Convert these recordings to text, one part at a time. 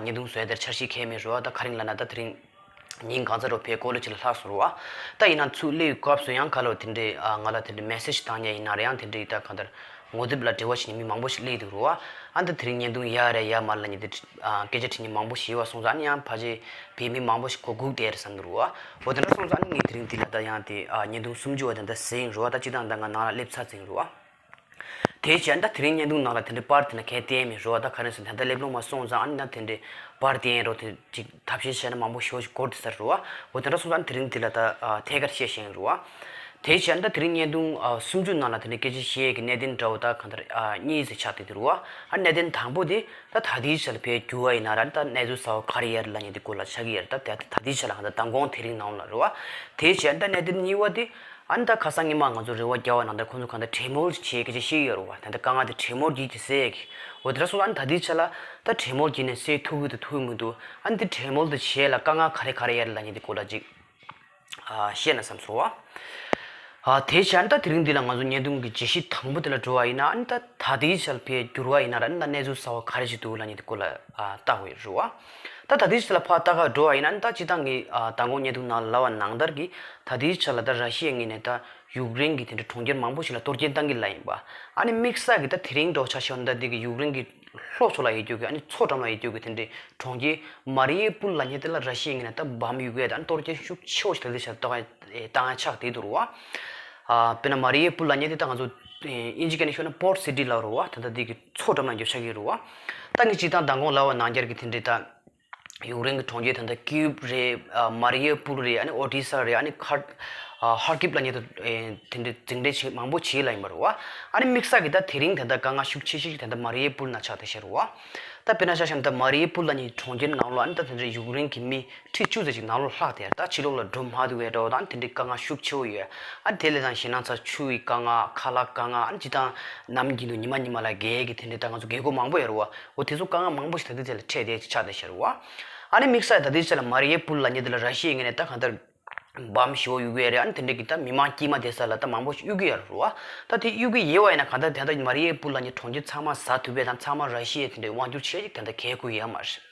ཉེས་རྡུང་བཟོས་དེར་འཆར་གཞི་ཁས་མི་རོལ་བ་ད་ག་རིང་ལ་ན་ད་དེ་རིང། ཉིན་གང་ཚ་རོ་བས་ཀོ་ལོ་ཅིག་ལ་ལྷག་སོང་རོགས་ཨ། ད་ཡིན་ན་ཚུགས་ལེའུའི་སྐབས་སུ་ཡང་ག་ལོར་དེ་འདྲའི་ང་ལ་དེ་འདྲའི་མེ་སེར་ཞིག་བཏང་ཉེ་ཡིན་ན་རེ་ཡང་དེ་འདྲའི་ད་ག་ལྟར། ངོ་དེབ་ལ་འབྲེལ་བ་བྱེད་ཉེ་མི་མང་པོ་ཞིག་བསླེས་འདུག་རོགས་ཨ། ད་དེ་རིང་ཉེས་རྡུང་ཡ་རེ་ཡ་མར་ལ་ཉེ་དེ། སྐད་ཆ་དྲིས་ཉེ་མང་པོ་ཞིག་ཡོད་བ་སོང་ཙང་ཨ་ནི་ཡང་ཕ་རྗེས་བས་མི་མང་པོ་ཞིག་གོ་སྒུག་བསྡད་རེད་བསམ་འདུག་རོགས་ཨ། འོ་དེ་འདྲ་སོང་ཙང་ཨ་ནི་ངས་དེ་རིང་འདི་ལ་ད་ཡང་དེ་ཉེས་རྡུང་སུམ་ཅུ་བ་དེ་འདྲ་ཟིན་རོགས་ཨ་ད་སྤྱི་བཏང་ད་ང་ནང་ལ་སླེབས་ཚར་ཟིན་རོགས་ཨ། དེའི་ཕྱིར་ད་དེ་རིང་བརྙན་ཐུང་ནང་ལ་དེ་འདྲའི་པར་དེ་འདྲ་གལ་ཏེ་མི་ཤོར་བ་ད་ག་རེ་ཟེར་ད་ལྟ་སླེབས་ལོང་མ་སོང་ཙང་ཨ་ནི་ད་དེ་འདྲའི་པར་དེ་ཡིན་རུང་དེ་ཅིག་ཐབས་ཤེས་བྱས་ན་མང་པོ་ཞོག་ཅིག་སྐོར་དེ་ཟེར་རུ་བ་འོ་དེ་འདྲ་སོང་ཙང་དེ་རིང་དེ་ལ་ད་ཐད་ཀར་བཤད་བཞིན་རུ་བ། དེའི་ཕྱིར་ད་དེ་རིང་བརྙན་ཐུང་སུམ་ཅུ་ནང་ལ་དེ་འདྲའི་སྐད་ཆ་བཤད་ཡས་ཀྱི་གནད་དོན་འདྲ་བོ་ད་གང་ལྟར་གཉིས་ཟེར་ཆགས་དེ་དེ་རུ་བ་ཨ་གནད་དོན་དང་པོ་དེ་ད་ད་ལྟའི་ཆ་ལ་བལ་འགྱུར་བ་ཡིན་ན་ར་ད་གནས་ཚུལ་ཟ་བ་ག་རེ་ཡར་ལ་ཉེ་དེ་སྐོར་ལ་ཆ་གི་ཡར་ད་ད་ལྟའི་ཆ་ལ་གང་ལྟར་ད་འགོང་དེ་རིང་ནང་ལ་རུ་བ། དེའི་ཕྱིར་ད་གནད་དོན་གཉིས་བ་དེ་ཨ་ནི་ད་ཁ་སང་ཉི་མ་ང་ཚོ་རེ་བ་རྒྱག་བ་ནང་ད་ཁོང་ཚོ་གང་ད་བྲེལ་མོར་བྱེད་ཀྱི་རེད་ཤེས་ཀྱི་ཡོད་རེད་བ་ད་ད་དཀའ་ངལ་དེ་བྲེལ་མོར་བགྱིད་ཀྱི་སེ། འོ་དེ་འདྲ་སོང་ཨ་ནི་ད་དེའི་ཆ་ལ་ད་བྲེལ་མོར་བགྱིད་ནས་སེ་ཐུག་གི་འདུག་ཐུག་གི་མི་འདུག་ཨ་ནི་དེ་བྲེལ་མོལ་དུ་བྱས་ལ་དཀའ་ངལ་ག་རེ་ག་རེ་ཡ་རེད་ལ་ཉེ་དེ་སྐོར་ལ་ཅིག་བཤད་ན་བསམ་སོང་བ། ཨ་དེའི་ཆ་ཨ་ནི་ད་དེ་རིང་འདི་ལ་ང་ཚོ་ཉེས་རྡུང་གི་རྗེས་གཞི་དང་པོ་དེ་ལ་འགྲོ་བ་ཡིན་ན་ཨ་ནི་ད་ད་དེའི་ཆ་ལ་ཕའི་འགྱུར་བ་ཡིན་ན་ར་ཨ་ནི་ད་གནས་ཚུལ་གསར་བ་ག་རེ་ཅིག་འདུག་ལ་ཉེ་དེ་སྐོར་ལ་བལྟ་དགོས་རེད་བ། ད་ད་ལྟའི་ཆ་ལ་ཕ་ལྟ་ག་འགྲོ་བ་ཡིན་ན་ད་ཅི་ད་ངས་ད་དགོངས་ཉེས་འདུག་ནང་ལ་ལབ་བ་ནང་ལྟར་གྱི་ད་ལྟའི་ཆ་ལ་ད་ར་ཤི་ཡའི་ངོས་ནས་ད་ཡུག་རེན་གྱི་དེ་འདྲ་གྲོང་ཁྱེར་མང་པོ་ཞིག་ལ་དོར་རྐྱེན་གཏང་གི་ལ་ཡིན་པ། ཨ་ནི་དམིགས་བསལ་གྱི་ད་དེ་རིང་འབྲོག་བྱ་ཤོར་ནི་ད་དེ་གི་ཡུག་རེན་གྱི་ལྷོ་ཕྱོགས་ལ་ཡེ་རྒྱུག་གི་ཨ་ནི་མཚོ་འགྲམ་ལ་ཡེ་རྒྱུག་གི་དེ་འདྲའི་གྲོང་ཁྱེར་མ་རི་ཡེ་པུལ་ལ་ཉེ་དེ་ལ་ར་ཤི་ཡའི་ངོས་ནས་ད་བམ་ཡུག་གའི་ད་ནི་དོར་རྐྱེན་ཤུགས་ཆེ་བོ་ཞིག་ད་ལྟའི་ཆ་ལ་གཏོང་གཏང་ཡ་ཆགས་དེ་དུ་རུ་བ། དཔེར་ན་མ་རི་ཡེ་པུལ་ལ་ཉེ་དེ་ད་ང་ཚོ་ཨིན་ཇི་ཀ་ནས་ཤོར་ན་པོར་སི་ཏི་ལ་རུ་བ་ད་ད་དེ་གི། མཚོ་འགྲམ་ན་འགྱོད་ཆགས་ཀྱི་རུ་བ། ད་ནི་སྤྱི་དང་མདང་དགོང་ལ་བ་ནང་རྒྱར་གྱི་དེ་འདྲའི་དང། ཡུག་རེན་གྱི་གྲོང་ཁྱེར་ད་ད་ཀིབ་རེད། མ་རི་ཡོ་པུར་རེད་ཨ་ནི་ཨོ་ཏི་ས་རེད་ཨ་ནི་ཁར། ཧར་ཀིབ་ལ་ཉེ་དུ་དེ་འདྲའི་འཛིང་རེས་བྱེད་མང་པོ་བྱེད་ལ་ཡིན་པ་རུ་བ། ཨ་ནི་དམིགས་བསལ་གྱི་ད་དེ་རིང་དེ་ད་དཀའ་ངལ་ཤུགས་ཆེ་ཤོས་ཤིག་དེ་ད་མ་རི་ཡོ་པུར་ན་ཆགས་ཏེ་བཤད་རུ་བ། ད་དཔེར་ན་ཤ་ཤམ་ད་མ་རི་ཡོ་པུར་ལ་ཉིད་གྲོང་ཁྱེར་ནང་ལོ་ཨ་ནི་ད་དེ་འདྲའི་ཡུག་རེན་གྱི་མི་ཁྲི་བཅུ་ཙམ་ཞིག་ནགས་ལོར་ལྷག་དེར་ད་ཕྱི་ལོགས་ལ་སྒྲོལ་མ་དུ་བའི་དགྲ་བོ་དང་དེ་འདྲའི་དཀའ་ངལ་ཤུགས་ཆེ་བོ་ཡོད་ཨ། དེ་ལས་ཀྱང་ཞེ་སྣང་ཚར་ཆུ་ཡི་དཀའ་ངལ་ཁ་ལག་དཀའ་ངལ་ཨ་ནི་ཅི་དང། ནམ་རྒྱུན་དུ་ཉི་མ་ཉི་མ་ལ་རྒས་ཡས་ཀྱི་དེ་འདྲའི་དཀའ་ངལ་ཚོ་རྒས་རྒོད་མང་པོ་ཡར་རོ། འོ་དེ་ཚོ་དཀའ་ངལ་མང་པོ་ཞིག་ད་ལྟའི་ཚད་ལ་འཕྲད་བསྡད་ཅིག་ཆགས་བསྡད་ཤར་རོ། ཨ་ནི་དམིགས་ས་ཡི་ད་ལྟའི་ཆ་ལ་མ་རི་ཡའི་པུར་ལ་ཉེ་དུ་ལ་ར་ཤི་ཡའི་ངེས་ནས་ད་གང་ལྟར། བམ་བཞི་བོ་གཡུག་གི་ཡ་རེད་ཨ་ནི་དེ་འདྲའི་གི་ད་མི་དམངས་སྐྱིད་མ་བསྡད་ས་ལ་ད་མང་པོ་ཞིག་གཡུག་གི་ཡར་རོ། ད་དེ་གཡུག་གི་ཡེ་བ་ཡིན་ན་གང་ལྟར་དེ་ལྟར་མ་རི་ཡའི་པུར་ལ་ཉེ་གྲོང་ཁྱེར་ཚང་མ་བཟའ་དུ་བས་དང་ཚང་མ་ར་ཤི་ཡའི་དེ་འདྲའི་དབང་བསྒྱུར་བྱས་ཅིག་དེ་ལྟར་གལ་དགོས་ཡ་མ་རེད།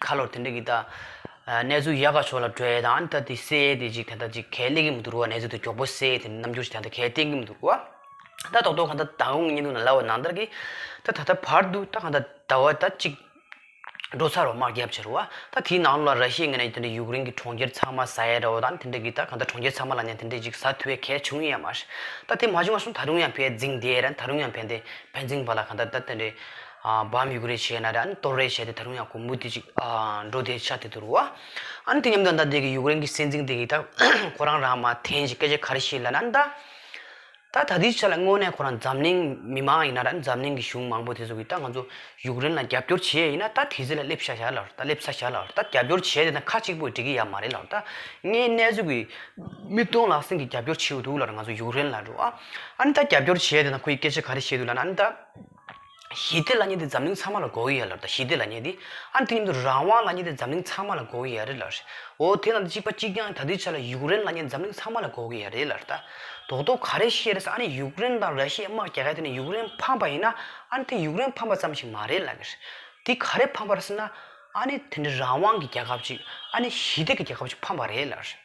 ཁ་ལོར་དེ་འདྲ་གི་ད། གནས་ཚུལ་ཡག་ག་ཕྱོགས་ལ་བྲོས་ཡས་དང་ཨ་ནི་ད་དེ་བསད་ཡས་དེ་ཅིག་དེ་འདྲ་ཅིག་གལ་གླེགས་ཀི་མི་འདུག་རུ་བ་གནས་ཚུལ་དེ་མགྱོགས་པོ་བསད་ཡས་དེ་འདྲ་རྣམ་འགྱུར་ཞིག་ད་ད་གལ་གཏན་གི་མི་འདུག་རུ་བ། ད་ཏོག་ཏོག་ག་ད་ད་ཧུང་གཉིད་འདུག་ན་ལ་བ་ནང་ལྟར་གི། ད་ད་ལྟ་བར་དུ་ད་ག་ད་ད་བ་ད་ཅིག། འགྲོ་ཚར་བ་དམག་རྒྱབ་བྱས་རུ་བ། ད་དེའི་ནང་ལོ་ལ་ར་ཤི་ཡའི་ངེད་ནས་དེ་འདྲ་ཡུཀ་རེན་གི་གྲོང་ཁྱེར་ཚང་མ་ཟ་ཡས་འདྲ་བ་དང་དེ་འདྲ་གི་ད་ག་ད་གྲོང་ཁྱེར་ཚང་མ་ལ་ནས་དེ་འདྲ་ཅིག་ཟ་ཐུ་ཡས་གལ་བྱུང་ཡས་མ་རེད། ད་དེ་མ་བྱུང་བ་སོང་ད་རུང་ཡང་བས་རྫིང་དེ་ཡས་ར་ད་རུང་ཡང་བས་འདི་བས་རྫིང་བ་ལ་ག་ད་ད་དེ་འདྲའི། བ་མི་དགོས་རེ་བྱས་ན་རེ་ཨ་ནི་སྟོར་རེ་བྱས་ཏེ་ད་རུང་ཡང་གོང་བུ་དེ་ཅིག་འགྲོ་དེ་ཆ་དེ་དུ་རུ་བ། ཨ་ནི་དེ་མཉམ་དུ་ཨ་མདའ་དེ་གི་ཡུག་རེན་གི་སྲིད་འཛིན་དེ་གི་ད་ཁོ་རང་རང་མ་འཐེན་ཅིག་སྐད་ཆ་ག་རེ་བཤད་ལ་ན་ཨ་མདའ། ད་ད་དུས་ཆ་ལ་དངོས་གནས་ཁོ་རང་འཛམ་གླིང་མི་མང་ཡིན་ན་རེ་ཨ་ནི་འཛམ་གླིང་གི་གཞུང་མང་པོ་དེ་ཚོ་གི་ད་ང་ཚོ་ཡུག་རེན་ལ་རྒྱབ་སྐྱོར་བྱེད་ཡས་ཡིན་ན་ད་དེ་ཚོ་ལ་སླེབས་ཤ་ཤ་ལགས་ད་སླེབས་ཚ་ཤ་ལགས་ད་རྒྱབ་སྐྱོར་བྱས་ཏེ་ད་ཁ་གཅིག་པོས་འགྲིག་གི་ཡ་མ་རེད་ལགས་ད་ངའི་གནས་ཚུལ་གི་མིག་མཐོང་ལག་ཟིན་གི་རྒྱབ་སྐྱོར་བྱེད་འདུག་ལགས་ང་ཚོ་ཡུག་རེན་ལ་རུ་བ། ཨ་ནི་ད་རྒྱབ་སྐྱོར་བྱས་ཏེ་ད་ཁོ་ཡི་སྐད་ཆ་ག་རེ་བཤད་འདུག་ལ་ན་ཨ་མདའ། ཞི་བདེ་ལ་ཉེ་དེ་འཛམ་གླིང་ཚང་མ་ལ་གོ་གི་ཡ་ལ་རྟ་ཞི་བདེ་ལ་ཉེ་དེ། ཨ་དེ་ཉིན་དུ་རང་དབང་ལ་ཉེ་དེ་འཛམ་གླིང་ཚང་མ་ལ་གོ་གི་ཡ་རེད་ལ། འོ་དེ་ན་དེ་གཅིག་པ་གཅིག་རྐྱང་ད་དེའི་ཆ་ལ་ཡུཀ་རེན་ལ་ཉེ་དེ་འཛམ་གླིང་ཚང་མ་ལ་གོ་གི་ཡ་རེད་ལ་རྟ། དོག་དོག་ག་རེ་བཤད་རེད་ས་ཨ་ནི་ཡུཀ་རེན་དང་ར་ཤི་ཡ་དམག་རྒྱག་ག་དེ་ནི་ཡུཀ་རེན་ཕམ་པ་ཡིན་ན་ཨ་ནི་དེ་ཡུཀ་རེན་ཕམ་པ་ཙམ་ཞིག་མ་རེད་ལ། དེ་ག་རེ་ཕམ་པ་རེད་ཟེར་ན་ཨ་ནི་དེ་འདྲ་རང་དབང་གི་རྒྱལ་ཁབ་ཅིག་ཨ་ནི་ཞི་བདེ་གི་རྒྱལ་ཁབ་ཅིག་ཕམ་པ་རེད་ལ།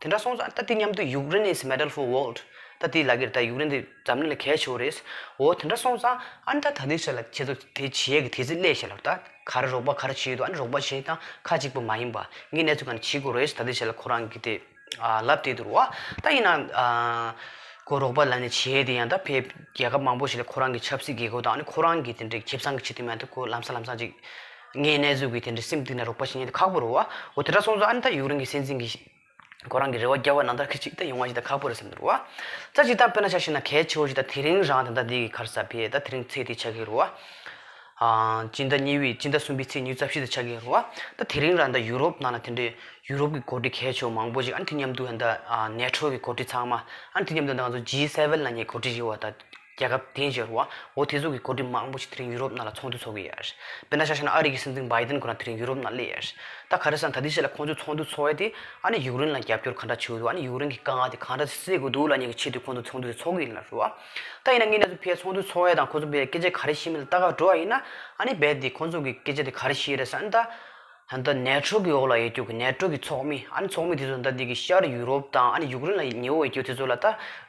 དེ་འདྲ་སོང་ཙང་ད་དེ་མཉམ་དུ་ཡུག་རེན་ཨིས་མེདལ་ཧྥོ་ཝོལ། ད་དེའི་ལག་གིར་ད་ཡུག་རེན་དེ་འཛམ་གླིང་ལ་གས་ཆེ་བོ་རེད། འོ་དེ་འདྲ་སོང་ཙང་ཨ་ནི་ད་ད་དེ་ཆ་ལ་ཁྱེད་ཚོ་དེ་བྱེད་ཡས་ཀྱི་དེ་ཚི་སླད་བྱེད་ལབ་ད། ག་རེ་རོགས་པ་ག་རེ་བྱེད་ཡོད་དུ་ཨ་ནི་རོགས་པ་བྱེད་ད་ཁ་ཅིག་པུ་མ་ཡིན་པ་ངའི་གནས་ཚུལ་ག་ནི་བྱེད་དགོས་རེད་ད་དེ་བྱེད་ལ་ཁོ་རང་གི་དེ། ཨ་ལབ་དེ་དུར་བ་ད་ཡིན་ན། ཁོ་རོགས་པ་ལ་ནི་བྱེད་དེ་ཡང་ད་ཕའི་རྒྱལ་ཁབ་མང་པོ་ཞིག་ལ་ཁོ་རང་གི་ཆབ་སྲིད་དགེ་བསྐོས་དང་ཨ་ནི་ཁོ་རང་གི་དེ་འདྲའི་ཁེབས་ཚང་གི་ཆེད་དུ་མ་ཡིན་ད་ཁོ་ལམ་སང་ལམ་སང་ཅིག། ངའི་རྣལ་འབྱོར་གྱིས་དེ་འདྲའི་སེམས་གཏིང་ནས་རོགས་པ་ཞིག་ཉན་དུ་ཁག་པོ་རུ་བ་འོ་དེ་འདྲ་སོང་ཙང་ཨ་ནི་ད་ཡུག་རང་གི་སེམས་ཅན་གྱི་ཁོ་རང་གི་རེ་བ་རྒྱལ་བ་ནང་ལྟར་ཁི་ཅིག་ད་ཡོང་བ་ཞིག་ད་ཁག་པོ་རེད་སེམས་དུ་རུ་བ། རྩ་གཅིག་ད་དཔེར་ན་ཆ་ཤེས་ན་གལ་ཆེ་བོ་ཞིག་ད་དེ་རིང་རང་དེ་ད་འདི་གི་ཁར་ས་བྷེ་ད་དེ་རིང་ཚེས་འདི་ཆགས་ཀྱི་རུ་བ། སྤྱི་ཟླ་གཉིས་པའི་སྤྱི་ཟླ་གསུམ་པའི་ཚེས་ཉིན་རྩ་བཞི་ད་ཆགས་ཀྱི་རུ་བ། ད་དེ་རིང་རང་ད་ཡུ་རོབ་ནང་ན་དེ་འདྲའི་ཡུ་རོབ་གི་གོ་སྒྲིག་གལ་ཆེ་བོ་མང་པོ་ཞིག་ཨ་ནི་དེ་མཉམ་དུ་ད་ནེ་ཁྲོ་གི་གོ་སྒྲིག་ཚང་མ་ཨ་ནི་དེ་མཉམ་དུ་ད་ང་ཚོ G7ལ་ཉེ་གོ་སྒྲིག་ཞིག་བ་ད། རྒྱལ་ཁབ་དེའི་གཞོན་བ་འོ་དྷི་ཟུག་གིས་གོ་སྒྲིག་མང་པོ་ཞིག་དེ་རིང་ཡུ་རོབ་ནང་ལ་ཚོགས་འདུ་འཚོགས་ཀྱི་ཡོད། དཔེར་ན་ཤ་ཤ་ན་ཨ་རི་གི་སྲིད་འཛིན Biden ཁོ་རང་དེ་རིང་ཡུ་རོབ་ནང་སླེབས་ཡོད། ད་ག་རེ་ཟ་ད་དེ་བྱས་ལ་ཁོང་ཚོས་ཚོགས་འདུ་འཚོགས་ཡས་དེ་ཨ་ནི་ཡུཀ་རེན་ལ་རྒྱབ་སྐྱོར་ག་འདྲ་བྱེད་དགོས་འདུག་ཨ་ནི་ཡུཀ་རེན་གི་དཀའ་ངལ་དེ་ག་འདྲ་སེལ་དགོས་འདུག་ལ་གཉིས་ཀྱི་ཆེད་དུ་ཁོང་ཚོ་ཚོགས་འདུ་དེ་འཚོགས་ཀྱི་ཡིན་ལ་ཟེར་བ། ད་ཡིན་ན་ངས་ནས་ཚོ་ཕའི་ཚོགས་འདུ་འཚོགས་ཡས་དང་ཁོ་ཚོ་ཕའི་སྐད་ཆ་ག་རེ་བཤད་མིན་ལ་ད་ག་འགྲོ་བ་ཡིན་ན་ཨ་ནི་རྦད་དེ་ཁོང་ཚོ་གི་སྐད་ཆ་དེ་ག་རེ་བཤད་རེད་ཟ་ཨ་ནི་ད། ད་ལྟ་ནད་ཕྲོག་གི་འོག་ལ་ཡོད་རྒྱུ་གི་ནད་ཕྲོག་གི་ཚོགས་མི་ཨ་ནི་ཚོགས་མི་དེ་ཚོ་ཟླ་འདི་གི་ཤར་ཡུ་རོབ་དང་ཨ་ནི་ཡུཀ་རེན་ལ་ཉེ་བོ་ཡོད་རྒྱུ་དེ་ཚོ་ལ་ད་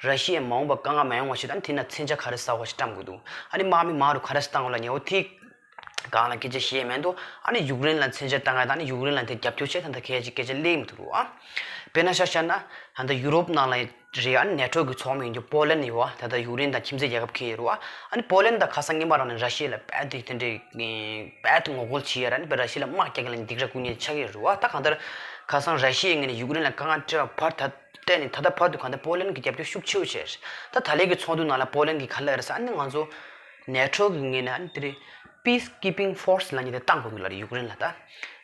ར་ཤི་ཡའི་མ་འོངས་པ་དཀའ་ངལ་མ་ཡོང་བ་བྱེད་དང་དེ་ན་མཚན་ཆ་ག་རེ་ཟ་བ་ཞིག་བཀྲམ་དགོས་འདུག་ཨ་ནི་དམག་མི་མང་རུ་ག་རེ་བཏང་བ་ལ་ཉེ་བོ་དེ་གང་ལ་སྐད་ཆ་བཤད་ཡས་མེད་འདུག་ཨ་ནི་ཡུཀ་རེན་ལ་མཚན་ཆ་བཏང་ཡས་དང་ཨ་ནི་ཡུཀ་རེན་ལ་དེ་རྒྱབ་སྐྱོར་བྱས་ད་ལྟ་གལ་ཆེ་སྐད་ཆ་གླེང་མི་ཐུབ་འདུག་ཨ་དཔེ་ན་ཤར་ཤར་ན་ད་ལྟ་ཡུ་རོབ་ནང་ལ་རེད་ཨ་ནི་ནེ་ཏྲོས་ཀྱི་ཚོགས་མི་ཡིན་རྒྱུ་པོ་ལན་ནི་ཡོད་ད་ལྟ་ཡུག་རེན་དང་ཁྱིམ་མཚེས་རྒྱལ་ཁབ་ཁེ་ཡི་རུ་ཨ་ནི་པོ་ལན་དང་ཁ་སང་ངེད་མ་རང་ནི་ར་ཤི་ཡའི་ལ་དཔལ་དུ་དེ་འདྲའི་དཔལ་དུ་ངོ་རྒོལ་བྱེད་ཡ་ར་ནི་པ་ར་ཤི་ལ་དམག་རྒྱག་གི་ལ་ནི་འདི་གྲ་ཀུ་ཉེ་ཆགས་ཡི་རུ་ཨ་ད་གང་ལྟར་ཁ་སང་ར་ཤི་ཡའི་ངེད་ནི་ཡུག་རེན་ལ་དཀའ་ངལ་སྤྲད་པ་བར་ད་ལྟ་ནི་ད་ལྟ་བར་དུ་གང་ལྟར་པོ་ལན་གྱི་རྒྱབ་སྐྱོར་ཤུགས་ཆེ་བོ་བྱས་རེད་ད་ད་ལའི་གི་ཚོགས་འདུ་ནང་ལ་པོ་ལན་གྱི་ཁ་ལ་རེ་ས་ཨ་ནི་ང་ཚོ་ནེ་ཏྲོ་གི་ངེད་ནི་ཨ་ནི་དེ་རི་པིས་ཀིས་པིང་ཧྥོར་སི་ལ་ཉེ་དེ་བཏང་དགོས་ཀྱི་ལ་རེད་ཡུག་རེན་ལ་ད།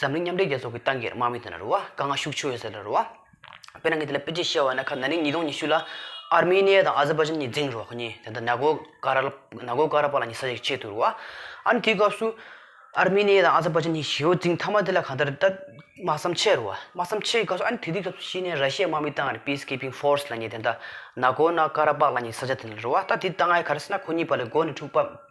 འཛམ་གླིང་མཉམ་འབྲེལ་རྒྱལ་ཚོགས་ཀྱི་ཏང་གི་དམག་མི་དེ་ལ་རུ་བ་དཀའ་ངལ་ཤུགས་ཆེ་བའི་ཟེར་ལ་རུ་བ། དཔེར་ན་ངས་དེ་ལ་དཔེ་ཅིག་བཤད་བ་ན་ཁ་ན་ནིང་ཉིས་སྟོང་ཉི་ཤུ་ལ་ཨར་མེ་ནི་ཡ་དང་ཨ་ཟི་པ་ཇན་གཉིས་འཛིང་རུ་བ་ཁོ་གཉིས་དེ་ད་ན་གོ་ཀ་ར་ན་གོ་ཀ་ར་པ་ལ་ཉི་ས་ཞིག་ཆེད་དུ་རུ་བ། ཨ་ནི་དེའི་སྐབས་སུ། ཨར་མེ་ནི་ཡ་དང་ཨ་ཟི་པ་ཇན་གཉིས་ཞི་བ་འཛིང་མཐའ་མ་དེ་ལ་གང་ལྟར་ད་དམག་བསམ་ཆད་རུ་བ་དམག་བསམ་ཆད་ཀྱི་སྐབས་སུ་ཨ་ནི་དེ་དུས་སྐབས་སུ་ཤི་ནའི་ར་ཤའི་དམག་མི་ཏང་གི Peace Keeping Force ལ་ཉེ་དེ་ད་ན་གོ་ན་ཀ་ར་པ་ལ་ཉི་ས་ཆ་དེ་ལ་རུ་བ་ད་དེ་ད་ང་ག་ར་སེ་ན་ཁོ་གཉིས་པ་ལས་འགོ་ནས་འཁྲུག་པ་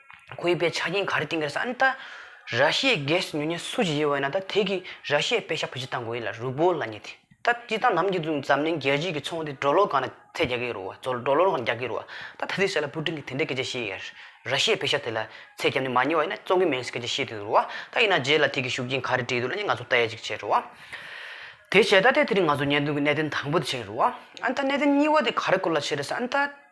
གུས་པའི་ཆ་རྐྱེན་ག་རེ་བསྟེན་གི་རེད་ཟེར་ཨ་ནི་ད་ར་ཤི་ཡའི་གེ་སི་ཉོ་ཉེན་སུ་ཞིག་ཡོད་བ་ཡིན་ན་ད་དེ་གི་ར་ཤི་ཡའི་དཔེ་ཤ་བོ་ཅི་ལྟ་འགོ་ཡིན་ལ་རུས་པོ་ལ་ཉེ་དེ་ད་ཅི་ལྟ་ནམ་གྱི་འཛམ་གླིང་རྒྱལ་སྤྱི་གི་ཚོང་དེ་འགྲོ་ལོག་གང་ན་ཚད་རྒྱག་གི་རུ་བ་ཚོ་འགྲོ་ལོག་གང་ན་རྒྱག་གི་རུ་བ་ད་ད་དེ་ཟེར་ལ་པུ་ཀྲིན་གི་དེ་འདྲའི་སྐད་ཆ་བཤད་ཡ་ར་ཤི་ཡའི་དཔེ་ཤ་དེ་ལ་ཚད་རྒྱབ་ནི་མ་ཉེ་བ་ཡིན་ན་བཙོང་གི་མིན་སྐད་ཆ་བཤད་དེ་རུ་བ་ད་ཡིན་ན་རྗེས་ལ་དེ་གི་ཤུགས་རྐྱེན་ག་རེ་སྤྲད་འདུག་ལ་ནི་ང་ཚོ་བལྟ་ཡ་ཅིག་བྱེད་རུ་བ་དེ་བྱས་ད་ལྟའི་དེ་རིང་ང་ཚོ་ཉན་འདུག་གི་གནད་དོན་དང་པོ་དེ་བྱེད་རུ་བ་ཨ་ནི་ད་གནད་དོན་གཉིས་བ་དེ་ག་རེ་སྐོར་ལ་བྱེད་རེད་ཟེར་ཨ་ནི་ད།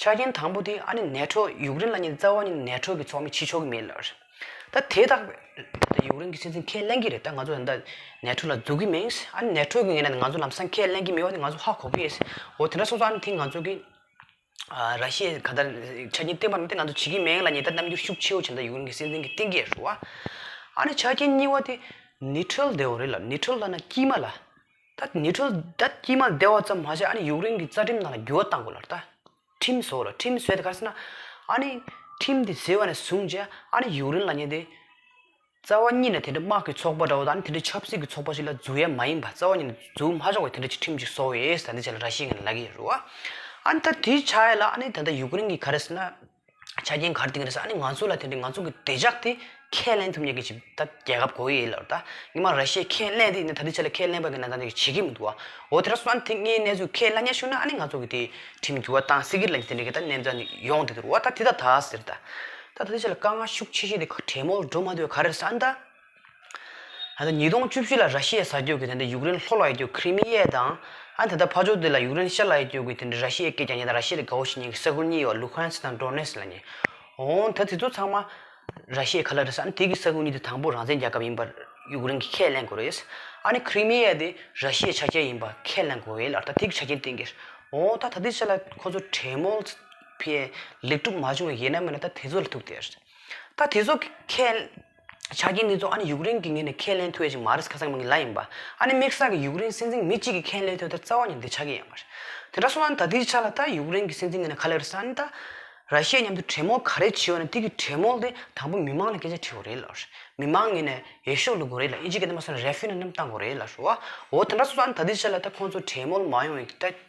ཆ་རྐྱེན་དང་པོ་དེ་ཨ་ནི་ནད་འཕྲོག་ཡུག་རེན་ལ་ཉིན་རྩ་བ་ནི་ནད་འཕྲོག་གི་ཚོགས་མི་འཆི་ཆོག་གི་མེད་ལ། ད་དེ་དག་པོ་ཡུག་རེན་གྱི་སྲིད་འཛིན་ཁས་ལེན་གྱི་རེད་ད་ང་ཚོ་ད་ནད་འཕྲོག་ལ་འཛུགས་ཀྱི་མིན་ཨ་ནི་ནད་འཕྲོག་གི་ངེས་ན་ང་ཚོ་ལམ་སང་ཁས་ལེན་གྱི་མེད་བ་ནི་ང་ཚོ་ཧ་གོ་གི་ཨོ་དེ་འདྲ་སོང་ཙང་ཨ་ནི་དེ་ང་ཚོ་གི་ར་ཤི་ཡའི་ག་ད་ཆ་རྐྱེན་བསྟན་པ་རྣམས་དེ་ང་ཚོ་བྱེད་ཀྱི་མེད་ལ་ཉི་ད་རྣམ་འགྱུར་ཤུགས་ཆེ་བོ་བྱེད་ད་ཡུག་རེན་གྱི་སྲིད་འཛིན་གྱི་གཏིང་སྐྱེས་རུ་ཨ་ནི་ཆ་རྐྱེན་གཉིས་བ་དེ་ནི་ཁྲོལ་དེའོ་རེད་ལ་ནི་ཁྲོལ་ལ་ན་དཀྱིས་མ་ལ། ད་ནི་ཁྲོལ་བསྡད་དཀྱིལ་མ་བདེ་བ་ཙམ་མ་བྱས་ཨ་ནི་ཡུག་རིང་གི་རྩ་ཁྲིམས་ནང་ལ་འགྱུར་བ་གཏང་དགོས་ལ་རྟ་ཁྲིམས་བཟོ་ལ་ཁྲིམས་བཟོས་ཏེ་གར་སོང་ན་ཨ་ནི་ཁྲིམས་དེ་བཟོས་བ་ནས་བཟུང་རྗེས་ཨ་ནི་ཡུག་རིང་ལ་ཉེ་སྡེའི་རྩ་བ་གཉིས་ནས་དེ་འདྲ་དམག་གི་ཚོགས་པ་འདྲ་བོ་དང་ཨ་ནི་དེ་འདྲའི་ཆབ་སྲིད་ཀྱི་ཚོགས་པ་ཞིག་ལ་འཛུགས་ཡ་མ་ཡིན་པ་རྩ་བ་གཉིས་ནས་འཛུགས་མ་ཆོག་པའི་དེ་འདྲ་ཅིག་ཁྲིམས་ཅིག་བཟོ་ཡས་ད་འདི་བྱས་ལ་ར་ཤི་ང་ནི་ལ་གི་ཡས་རུ་བ་ཨ་ནི་ད་འདི་བྱས་ལ་ཨ་ནི་ད་ལྟ་ཡུག་རིང་གི་ག་རེ་སོང་ན། ཆ་རྐྱེན་ག་རེ་ཏིག་ག་རེ་ཟ་ནི་ང་ཚོ་ལ་དེ་འདྲའི་ང་ཚོ་གི་བདེ་འཇགས་དེ་ཁས་ལེན་ཐུབ་མྱོང་གི་ཅིག་ད་རྒྱལ་ཁབ་གོ་ཡི་ལོར་ད་ཉི་མ་ར་ཤི་ཁས་ལེན་དེ་ཡིན་ད་དེ་ཆ་ལ་ཁས་ལེན་པ་གི་ན་ད་ནི་བྱེད་ཀྱི་མི་འདུག་བ་འོ་དེ་ར་སོན་དེ་ངའི་གནས་ཚུལ་ཁས་ལ་ཉན་ཤུགས་ན་ཨ་ནི་ང་ཚོ་གི་དེ་ཁྲིམས་འགྱུར་བ་དང་སྲིད་ཀྱི་ལ་ཉེ་དེ་འདྲའི་གི་ད་གནས་ད་ནི་ཡོང་དེ་འདུག་བ་ད་དེ་ད་ད་ཟེར་ད་ད་དེ་ཆ་ལ་དཀའ་ངལ་ཤུགས་ཆེ་ཤོས་དེ་གྲེ་མོར་འགྲོ་མ་འདོད་ག་རེ་ཟ་ནི་ད་ཉིས་སྟོང་བཅུ་བཞི་ལ་ར་ཤི་ཡའི་ས་ཁྱོད་ཀྱི་དེ་འདྲ་ཡུག་རེན་ལྷོ་ལ་ཡི་ཁྱོད་ཁི་རི་མི་ཡའི་དང། ཨ་དེ་དག་ཕ་ཆོག་དེ་ལ་ཡུག་རེན་ཤར་ལ་ཡི་ཁྱོད་ཀྱི་དེ་འདྲ་ར་ཤི་ཡའི་སྐད་ཀྱང་ཉེ་དང་ར་ཤི་ཡའི་ལས་གའོ་ཤི་ཉིན་གྱི་ས་ཁུལ་གཉིས་ཡོད་ཨ་ལུ་ཧན་སི་ཐང་ཀྲོ་ནེ་སི་ལ་ཉེ། འོང་ད་དེ་ཚོ་ཚང་མ་ར་ཤི་ཡའི་ཁ་ལ་རེད་ས་ཨ་ནི་དེ་གི་ས་ཁུལ་གཉིས་དེ་དང་པོ་རང་བཙན་རྒྱལ་ཁབ་ཡིན་པ་ཡུག་རེན་གྱི་ཁས་ལེན་དགོས་རེད། ཨ་ནི་ཁི་རི་མི་ཡའི་དེ་ར་ཤི་ཡའི་ཆ་རྐྱེན་ཡིན་པ་ཁས་ལེན་དགོས་རེད་ལར་ད་དེ་གི་ཆ་རྐྱེན་སྟེང་གིར། འོང་ད་ད་དེ་ཆ་ལ་ཁོ་ཚོ་ཁྲེ་མོལ་སི་ཕི་ཡའི་ལེགས་གྲུབ་མ་བྱུང་བའི་ཡས་ན་མེད་ན་ད་དེ་ཚོ་ལ་ཐུག་དེ་རེད། ད་དེ་ཚོ་གི་ཁས། ཆ་རྐྱེན་འདི་ཚོ་ཨ་ནི་ཡུཀ་རེན་གྱི་ངོས་ནས་ཁས་ལེན་ཐུབ་ཡ་ཅིག་མ་རེད་ཁ་སང་མི་ངན་ལ་ཡིན་པ་ཨ་ནི་དམིགས་བསལ་གྱི་ཡུཀ་རེན་སྲིད་འཛིན་མི་གཅིག་གིས་ཁས་ལེན་ཐུབ་ད་རྩ་བ་ནི་འདི་ཆ་རྐྱེན་ཡང་མ་རེད། དེ་འདྲ་སོང་ན་ད་ལྟའི་ཆ་ལ་ད་ཡུཀ་རེན་གྱི་སྲིད་འཛིན་ངོས་ནས་ཁ་ལེ་རེ་ས་ཨ་ནི་ད་ར་ཤི་ཡའི་མཉམ་དུ་གྲེས་མོལ་ག་རེ་བྱེད་འོ་ན་ཐིག་གི་གྲེས་མོལ་དེ་དང་པོ་མི་མང་ལ་སྐད་ཆ་དྲི་འོ་རེད་ལ་ཤི་མི་མང་ངོས་ནས་ཡེ་ཤུ་ལུགས་དགོ་རེད་ལ་ཨི་ཇི་ག་དེ་མ་སོང་ན་རེ་ཕི་ན་རྣམས་བཏང་དགོ་རེད་ལ་ཤི་འོ་འོ་དེ་འདྲ་སོང་ས་ཨ་ནི་ད་ལྟའི་ཆ་ལ་ད་ཁོང་ཚོ་གྲེས་མོལ་མ་ཡོང་ཡིག་ད།